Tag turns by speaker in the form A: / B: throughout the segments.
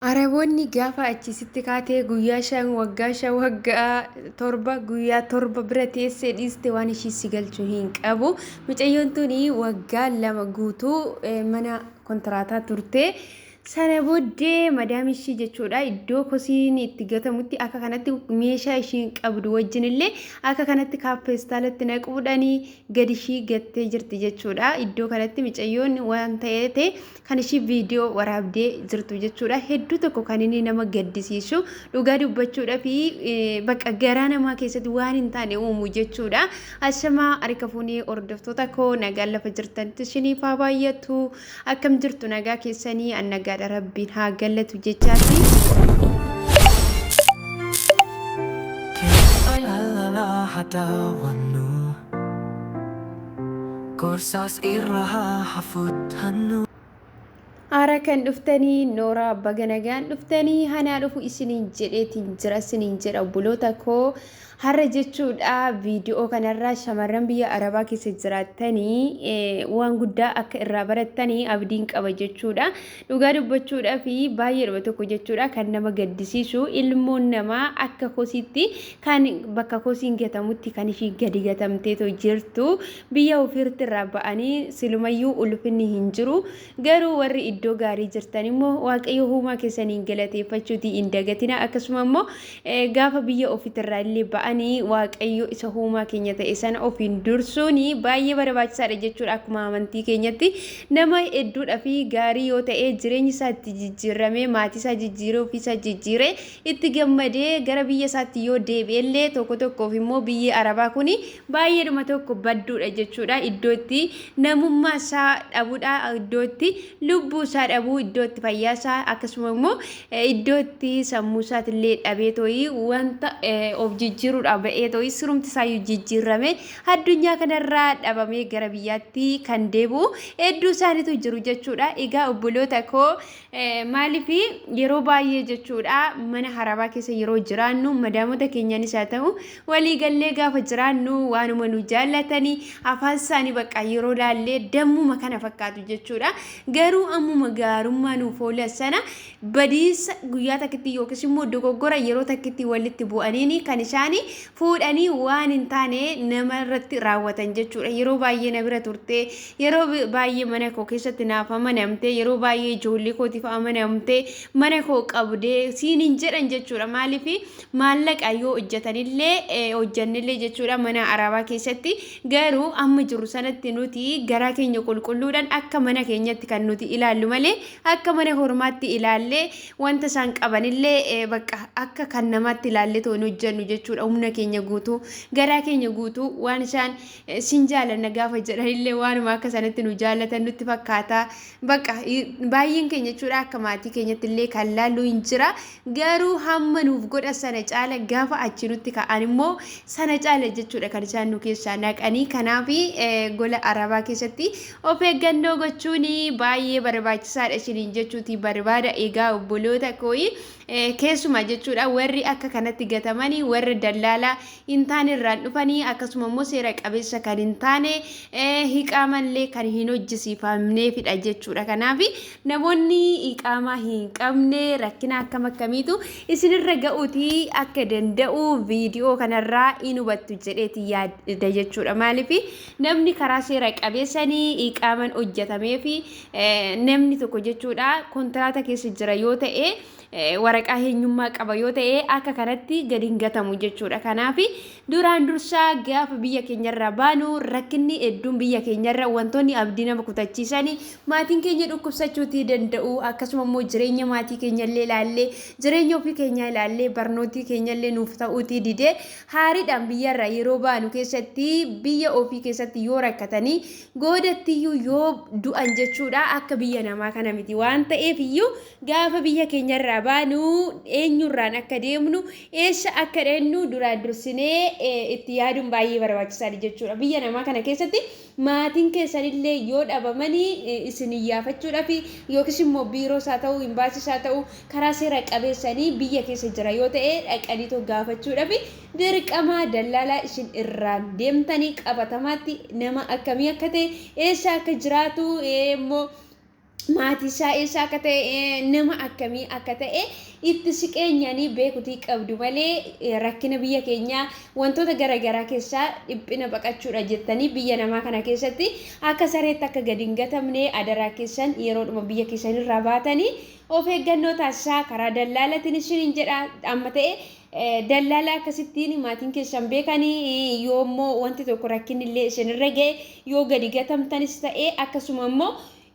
A: Araboonni gaafa achi sitti kaatee guyyaa shan waggaa shan waggaa torba guyyaa torba bira teessee dhiiste waan ishii si galchu hin qabu. Mucayyoon tuni waggaa lama guutuu eh, mana kontiraataa turte. Sana booddee madaam ishii jechuudha iddoo kosiin itti gatamutti akka kanatti meeshaa ishiin qabdu wajjin illee akka kanatti kaappeestaalatti naquudhanii gadi ishii gattee jirti jechuudha. Iddoo kanatti mucayyoon waan ta'ee kan ishii viidiyoo waraabdee jirtu jechuudha. Hedduu tokko kan inni nama gaddisiisu dhugaa dubbachuudha fi bakka garaa namaa keessatti waan hin taane uumu jechuudha. Ashamaa harika fuunee hordoftoota koo nagaan lafa jirtanitti isiniif haa baay'atu. Akkam jirtu nagaa keessanii an nagaadha rabbiin haa gallatu jechaati. Hadawannu Gorsaas irra haa hafuttannu. Ara kan dhuftani Nora baga nagaan dhuftani hanaa dhufu isiniin jedheetiin jira isiniin jedha obboloota koo har'a jechuudha viidiyoo kanarraa shamarran biyya arabaa keessa jiraattanii eh, waan guddaa akka irraa barattanii abdiin qaba jechuudha Dhugaa dubbachuudhaaf baay'eedhuma tokko jechuudha kan nama gaddisiisu ilmoon namaa akka kosiitti kan bakka kosiin gatamutti kan ishii gadi gatamteetoo jirtu biyya ofiirratti irraa ba'anii silumayyuu ulfinni hin jiru garuu warri iddoo gaarii jirtan immoo waaqayyo huumaa keessaniin galateeffachuutii hin dagatina akkasuma immoo Gaafa biyya ofitirraa illee ba'ani Waaqayyo isa huumaa keenya ta'e sana ofiin dursuuni baay'ee barbaachisaadha jechuudha akkuma amantii keenyatti nama hedduudha fi gaarii yoo ta'e jireenyi isaa itti jijjiirramee maatii isaa jijjiiree ofii isaa jijjiiree itti gammadee gara biyya isaatti yoo deebi'e illee tokko tokkoof immoo biyyi arabaa kun baay'eedhuma tokko badduudha jechuudha iddoo itti namummaa isaa dhabuudha iddoo itti lubbuu isaa dhabuu iddoo itti fayyaa isaa akkasuma immoo Iddoo itti sammuu isaatillee dhabee tooyi wanta of jijjiiruudhaaf ba'ee tooyi sirumti isaayyuu jijjiirrame addunyaa kanarraa dhabamee gara biyyaatti kan deebi'u hedduu isaaniitu jiru jechuudha. Egaa obboloota koo maaliif yeroo baay'ee jechuudha mana harabaa keessa yeroo jiraannu madaamota keenyaanis haa ta'u Walii gallee gaafa jiraannu waanuma nu jaallatanii afaan isaanii baqqaa yeroo laallee dammuma kana fakkaatu jechuudha. Garuu ammuma gaarummaa nuuf oolan sana badiisa guyyaa takkitti yookiis immoo dogoggora yeroo takkitti walitti bu'aniin kan isaanii fuudhanii waan hin taane nama irratti raawwatan jechuudha. Yeroo baay'ee na bira turtee, yeroo baay'ee mana koo keessatti naaf amanamtee, yeroo baay'ee ijoollee kootiif amanamtee, mana koo qabdee siin hin jedhan jechuudha. Maaliif maallaqa yoo hojjetanillee eh, hojjennillee jechuudha mana arabaa keessatti garuu amma jirru sanatti nuti garaa keenya qulqulluudhaan akka mana keenyatti kan nuti ilaallu malee akka mana hormaatti ilaallee wanta isaan qabanillee eh, bakka akka kan namaatti ilaallee ta'u hin hojjennu jechuudha humna keenya guutuu garaa keenya guutuu waan isaan eh, sin jaalanna gaafa jedhanillee waanuma akka sanatti nu jaallatan nutti fakkaata bakka i- baay'een keenya jechuudha akka maatii keenyatti illee kan laallu hin jira Garuu hamma nuuf godhan sana caala gaafa achi nutti ka'an immoo sana caala jechuudha kan isaan nu keessaa naqanii. Kanaaf gola arabaa keessatti of eeggannoo gochuun baay'ee barbaachisaadha isiniin jechuuti barbaada. Egaa obboloota kooyi keessumaa jechuudha warri akka kanatti gatamanii warra dallaalaa hin taane irraan dhufanii akkasuma immoo seera qabeessa kan hin taane hiqaamallee kan hin hojjisiifamneefidha jechuudha. Kanaaf namoonni hiqaamaa hin qabne rakkina akkam akkamiitu isinirra ga'uutii akka danda'u viidiyoo kanarraa in hubattu jedheeti yaada jechuudha. Maaliif namni karaa seera qabeessanii hiqaaman hojjetamee fi namni tokko jechuudha kontiraata keessa jira yoo ta'e. waraqaa heenyummaa qaba yoo ta'e akka kanatti gadi hin gatamu jechuudha. Kanaaf duraan dursaa gaafa biyya keenyarraa baanu rakkinni hedduun biyya keenyarra wantoonni abdii nama kutachiisan maatiin keenya dhukkubsachuutii danda'u akkasuma immoo jireenya maatii keenyallee ilaallee jireenya ofii keenyaa ilaallee barnootii keenyallee nuuf ta'uutii didee haariidhaan biyyarraa yeroo baanu keessatti biyya ofii keessatti yoo rakkatanii goodattiyyuu yoo du'an jechuudha akka biyya namaa kana miti waan ta'eef iyyuu Gaafa biyya keenyarraa baanu eenyurraan akka deemnu, eessa akka dhaqnu duraan dursinee itti yaaduun baay'ee barbaachisaadha jechuudha. Biyya namaa kana keessatti maatiin keessanillee yoo dhabamanii isin iyyaafachuudhaaf yookiis immoo biiroos haa ta'u, imbaasiis haa ta'u, karaa seera qabeessanii biyya keessa jira yoo ta'e dhaqanii too gaafachuudhaaf dirqamaa dallaalaa isin irraan deemtanii qabatamaatti nama akkamii akka ta'e, eessa akka jiraatu immoo maatii isaa eessaa akka ta'e nama akkamii akka ta'e itti siqeenyaanii beekutii qabdu malee rakkina biyya keenyaa wantoota garaagaraa keessaa dhiphina baqachuudha jettanii biyya namaa kana keessatti akka sareetti akka gadi hin gatamne adaraa keessan yeroodhuma biyya keessan irraa baatanii of eeggannoo taasisaa karaa dallaalatiin isiniin jedha amma ta'e Dallaalaa akkasittiin maatiin keessan beekanii yoo immoo wanti tokko rakkinni illee isinirra ga'e yoo gadi gatamtanis ta'e akkasuma immoo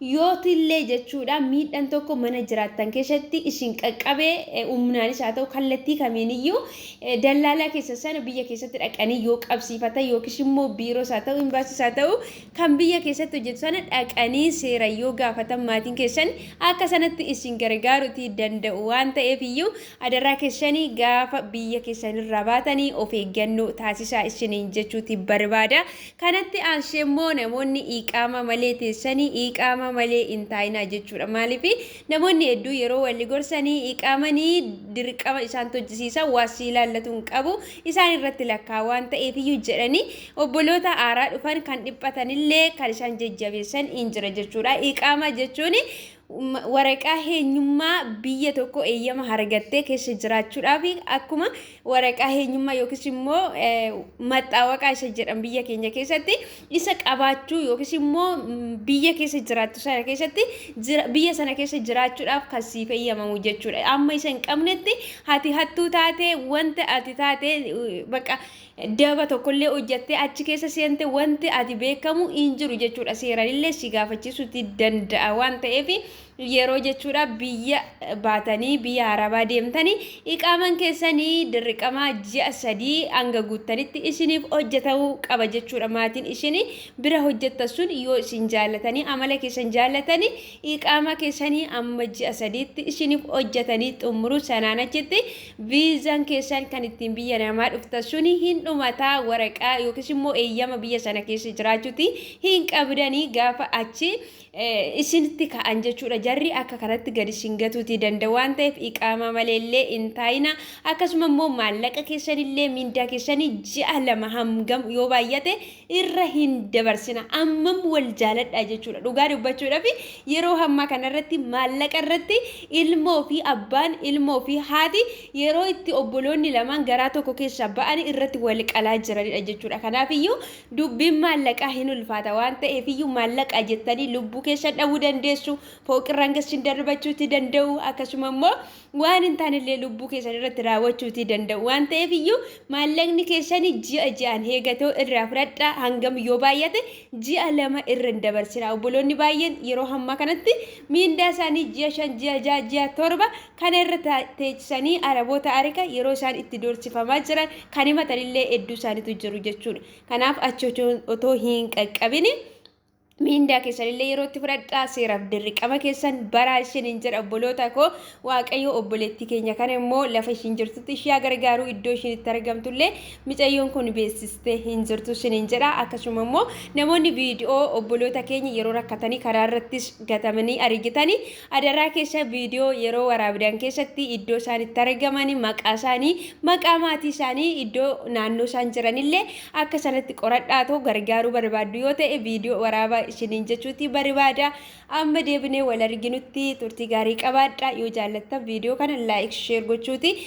A: yootillee jechuudha miidhan tokko mana jiraattan keessatti isin qaqqabee humnaanis haa ta'u kallattii kamiin iyyuu dallaalaa keessa sana biyya keessatti dhaqanii yoo qabsiifatan yookiis immoo biiroos haa ta'u imbaasiis haa ta'u kan biyya keessatti hojjetu sana dhaqanii seera yoo gaafatan maatiin keessan akka sanatti isin gargaaruti danda'u waan ta'eef iyyuu Adaraa kessani gaafa biyya kessanirraa baatani of eeggannoo taasisaa issiniin jechuuti barbaada. Kanatti aansee immoo namoonni iiqaamaa malee teessani iiqaamaa malee in taa'inaa jechuudha. Maaliifi namoonni hedduu yeroo walli gorsani iiqaamani dirqama isaan tojjisiisa waa sii laallatu hin qabu isaan irratti lakkaa waan ta'eefiyyuu jedhani obboloota aaraa dhufan kan dhiphatanillee kan isaan jajjabeessan in jira jechuudha. Iiqaamaa jechuun waraqaa heenyummaa biyya tokko eeyyama hargattee keessa jiraachuudhaaf akkuma waraqaa heenyummaa yookiis immoo maxxaawaqaa isa jedhan biyya keenya keessatti isa qabaachuu yookiis immoo biyya keessa jiraattu sana keessatti biyya sana keessa jiraachuudhaaf kan siif eeyyamamu jechuudha. Amma isa hin qabnetti ati hattuu taate wanta ati taate bakka daba tokkollee hojjattee achi keessa seente wanti ati beekamu hin jiru jechuudha seeranillee si gaafachiisuutti danda'a waan ta'eef yeroo jechuudha biyya baatanii biyya arabaa deemtanii iqaaman keessanii dirriqamaa ji'a sadii hanga guuttanitti isiniif hojjatamuu qaba jechuudha maatiin isin bira hojjattan sun yoo isin jaallatanii amala keessan jaallatanii iqaamaa keessanii amma ji'a sadiitti isiniif hojjatanii xumuruu sanaan achitti Viizan keessan kan ittiin biyya namaa dhuftan suni hin dhumataa waraqaa yookiis immoo eeyyama biyya sana keessa jiraachuuti hin qabdanii gaafa achi isinitti ka'an jechuudha. Jarri akka kanatti gadi isin gatuutii danda'a waan ta'eef iqaamaa malee illee hin taa'ina. Akkasuma immoo maallaqa keessan illee mindaa keessanii ji'a lama hangam yoo baay'ate irra hin dabarsina ammam wal jaaladhaa jechuudha dhugaa dubbachuudhaaf yeroo hammaa kanarratti maallaqa irratti ilmoo fi abbaan ilmoo fi haati yeroo itti obboloonni lamaan garaa tokko keessaa ba'anii irratti wal qalaa jiranidha jechuudha kanaaf iyyuu dubbiin maallaqaa hin ulfaata waan ta'eef iyyuu maallaqaa jettanii lubbuu keessan dhabuu dandeessu fooqirraan gassin darbachuutti danda'u akkasuma immoo waan hin taanellee lubbuu keessan irratti raawwachuutii danda'u waan ta'eef iyyuu maallaqni keessan ji'a ji'aan heegatoo irraa fudhadhaa hangam yoo baay'ate ji'a lama irra hin dabarsinaa obboloonni baay'een yeroo hammaa kanatti miindaa isaanii ji'a shan ji'a ja'a ji'a torba kana irra teechisanii araboota arika yeroo isaan itti doorsifamaa jiran kan himatanillee hedduu isaaniitu jiru jechuudha kanaaf achi otoo hin qaqqabini miindaa keessanillee yeroo itti fudhadhaa seeraaf dirqama keessan baraa isiniin jedha obboloota koo waaqayyo obboleettii keenya kana immoo lafa ishiin jirtutti ishee gargaaruu iddoo ishiin itti argamtullee micayyoon kun beeksistee hin jirtu isiniin jedha akkasuma immoo namoonni viidiyoo obboloota keenya yeroo rakkatanii karaa irrattis gatamanii argitanii Adaraa keessa viidiyoo yeroo waraabdan keessatti iddoo isaan itti argaman, maqaa isaanii, maqaa maatii isaanii, iddoo naannoo isaan jiranillee akka sanatti qoradhaa too gargaaruu barbaaddu yoo ta'e viidiyoo waraabaa isiniin jechuuti barbaada. Amma deebinee wal arginutti turtii gaarii qabaadha. Yoo jaallattan viidiyoo kana laayik sheer gochuuti.